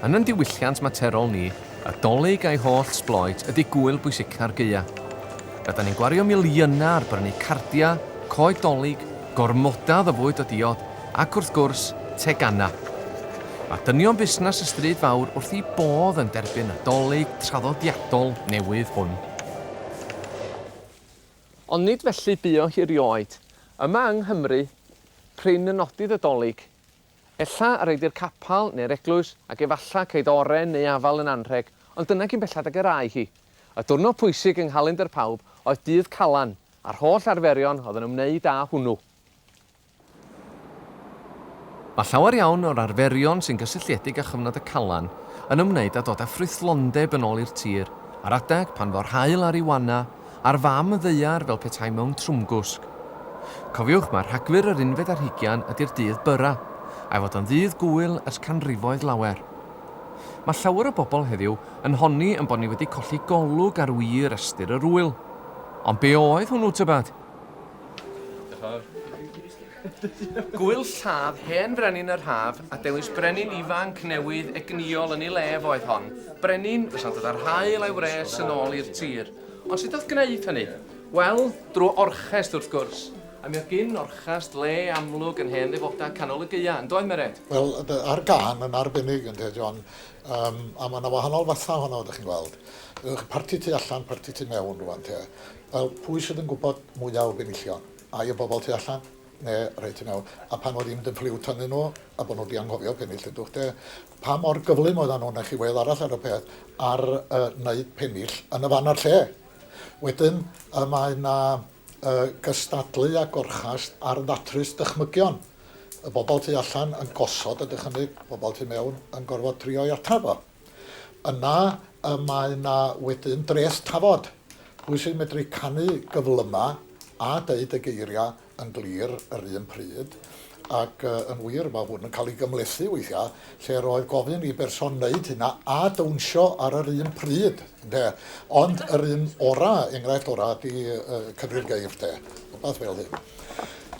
Yn yn diwylliant materol ni, y Dolig a'i holl sbloet ydy gŵyl bwysica'r gaea. Rydan ni'n gwario miliynau ar brynu cardiau, coed Dolig, gormodau o fwyd o diod ac wrth gwrs, teganau. Mae dynion busnes y Stryd Fawr wrth i bodd yn derbyn y Dolig traddodiadol newydd hwn. Ond nid felly bu o hi rioed. Yma yng Nghymru, prin y nodydd y Dolig. Ella a redig capal neu'r eglwys, ac efalla ceid oren neu afal yn anrheg, ond dyna cyn belled ag yr âi hi. Y diwrnod pwysig yng nghalendr pawb oedd dydd Calan, a'r holl arferion oedd yn ymwneud â hwnnw. Mae llawer iawn o'r arferion sy'n gysylltiedig â chyfnod y Calan yn ymwneud â dod â ffrwythlondeb yn ôl i'r tir, ar adeg pan fo'r haul ar ei wana, a'r fam ddaear fel petai mewn trwmgwsg. Cofiwch mai Rhagfyr yr unfed ar hugian ydi'r dydd byrra, a'i fod o'n ddydd gŵyl ers canrifoedd lawer. Mae llawer o bobl heddiw yn honni ein bod ni wedi colli golwg ar wir ystyr yr ŵyl. Ond be oedd hwnnw tybed? Gwyl lladd hen frenin yr haf a dewis brenin ifanc newydd egnïol yn ei le fo oedd hon, brenin fysa'n dod â'r haul a'i wres yn ôl i'r tir. Ond sut o'dd gneud hynny? Wel, drw orchest wrth gwrs. A mi oedd gin orchest le amlwg yn hen ddefoda canol y gaea, yn doedd Meret? Wel, a'r gân yn arbennig ynde, John, yym a ma' 'na wahanol fatha ohono fo 'dych chi'n gweld. Parti tu allan, parti tu mewn rŵan te. Wel, pwy sydd yn gwybod mwya o benillion? Ai y bobl tu allan? Ne, reit, yn iawn, a phan fo ddim dim ffliw tynnu nhw, a bo nhw di anghofio penill yn dwch de, pa mor gyflym oeddan nhw na chi wedd arall ar y peth ar y neud penill yn y fan a'r lle? Wedyn y mae na y gystadlu a gorchast ar ddatrys dychmygion y bobl tu allan yn gosod a dychymyg bobl tu mewn yn gorfod trio'i atraf o. Yna y mae 'na wedyn dreth tafod. Pwy sy'n medru canu gyflyma a deud y geiria yn glir yr un pryd? Ac yn wir, mae hwn yn cael ei gymhlethu weithia, lle roedd gofyn i berson neud hynna a dawnsio ar yr un pryd, ynde? Ond yr un ora, enghraifft ora, ydi cyfri'r geir, 'de? Rwbath fel hyn.